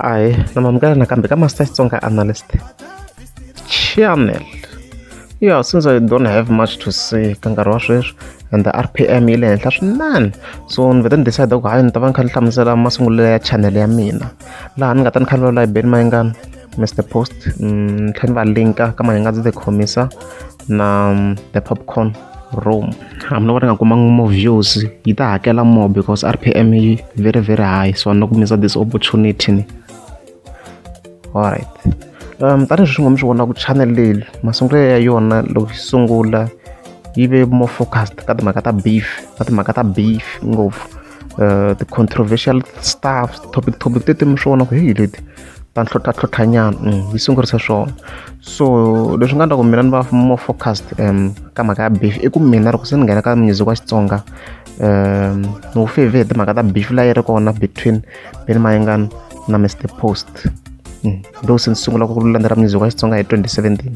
ayi namamukela nakambe ka master xitsonga analyst channel ya since i don't have much to say ka nkarhi wa sweswi and the rpm yi le henhla swinene so ni vete ni decide ku hayi ni ta va ni kha ni hlamusela masungulelo ya channel ya mina laha ni nga ta ni kha ni vulavula hi beni mayingani mr post mm, ni tlhela ni va linka ka mahingani ndzi ti khomisa na um, the popcorn room hambi no va ri nga kumanga more views yi ta hakela more because rpm yi very very high so ni kumisa this opportunity ni alright um tanihileswi nga mi swi vona ku channel leyi masungulelo ya yona loko yi sungula yi ve more focused ka timhaka ta beef ka timhaka ta beef ngopfu uh, the controversial stuff topic topic tete mi swi vona ku heyi leti ta ntlhontlha tlhontlhanyana mm, yi sungurisa swona so leswi nga endla ku mina ni va more focused um ka mhaka ya beef i ku mina loko se ni nghena ka music wa xitsonga um ni wu feve hi timhaka ta beef la yi ri kona between beni mayingani na mr post mm, though se ni sungula ku landzela music wa xitsonga hi 2017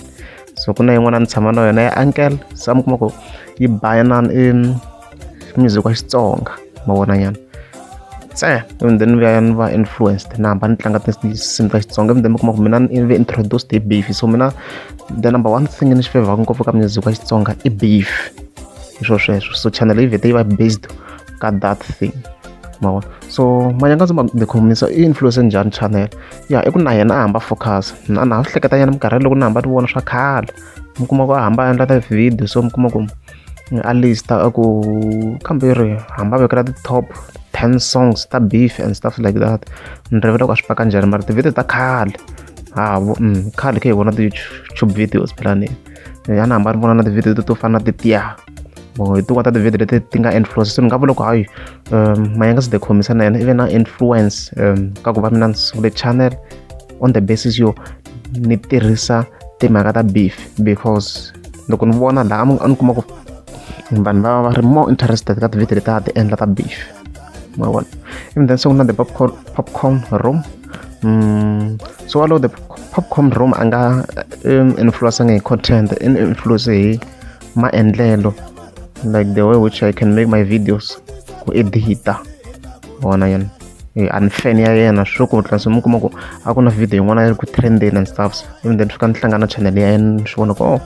so ku na yin'wana ni tshama na yona ya uncle se a mi kuma ku yi bayanani music wa xitsonga ma vona nyana se and then vuya ni va influenced na hamba ni tlanga tinsimu ta xitsonga and then mi kuma ku mina ni ve introduced hi beef so mina the number one thing ni xi fevhaka ngopfu ka music wa xitsonga i beef hi swo sweswo so channel yi vhete yi va based ka that thing ma vona so manyanga ndzi ma tikhomisa i influence njhani channel ya i ku na yena a hamba focus na na ha swi hleketanyana minkarhi loko ni hamba ni vona swa khale mi kuma ku a hamba a endla ta video so mi kuma ku a list a ku kambe ri hamba vekela ti-top ten songs ta beef and stuff like that ni rivele ku a swi paka njhani mara ti-video ta khale ha vo mm, khale khe hi vona ti-youtube videos philani a ni hamba ni vona na ti-video to fana na titiya or hi tin'wana ta ti-video leti ti nga influence so ni nga vula ku hayi um mayanga se dekhomisa na yena ive na influence um ka ku va mina ni sungule channel on the basis yo ni tirhisa timhaka ta beef because loko ni vona laha a ni kuma ku vanhu va va ri more interested ka ti-video leti a ti endla ta beef ma vona even then so ku na the popcorn, popcorn room mm, so walowo the popcorn room a nga um, influencanga hi content in influence hi maendlelo like the way which i can make my videos ku edita vona yena eh, a ni fan ya yena swo ku tlhela se mi kuma ku a ku na video yin'wana yi ri ku trendeni and stuffs even then swi ka ni hlangana channel ya yena ni swi vona ku oh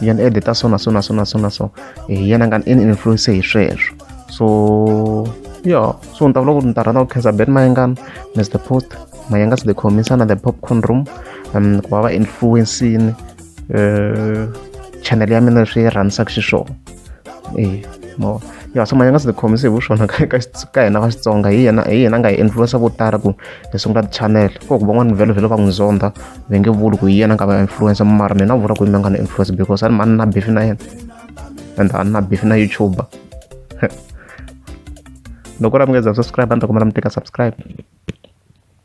yena edita so na so na so na so na so hi eh, yena nga ni influence hi sweswo so yo so ni ta vula ku ni ta rhandza ku khensa ben mayengana mr post mayengas the commissana the popcorn room um ku va va influencini eh, channel ya mina leswi yi rhandisaka xiswona e mo ya so manyanga swi tikhomise hi vuswona ka hina va xitsonga hi yena hi yena nga hi influensa vo tala ku hi sungula ti-channel ko ku van'wana vhelo vhelo va n'wi zonda va nge vuli ku hi yena nga va influensa mara mina vula ku yi nga ni influensa because a ni mani na bifi na yena and a ni na bifi na youtuber loko ra mi nga za subscribe a ni ta kuma ra mi teka subscribe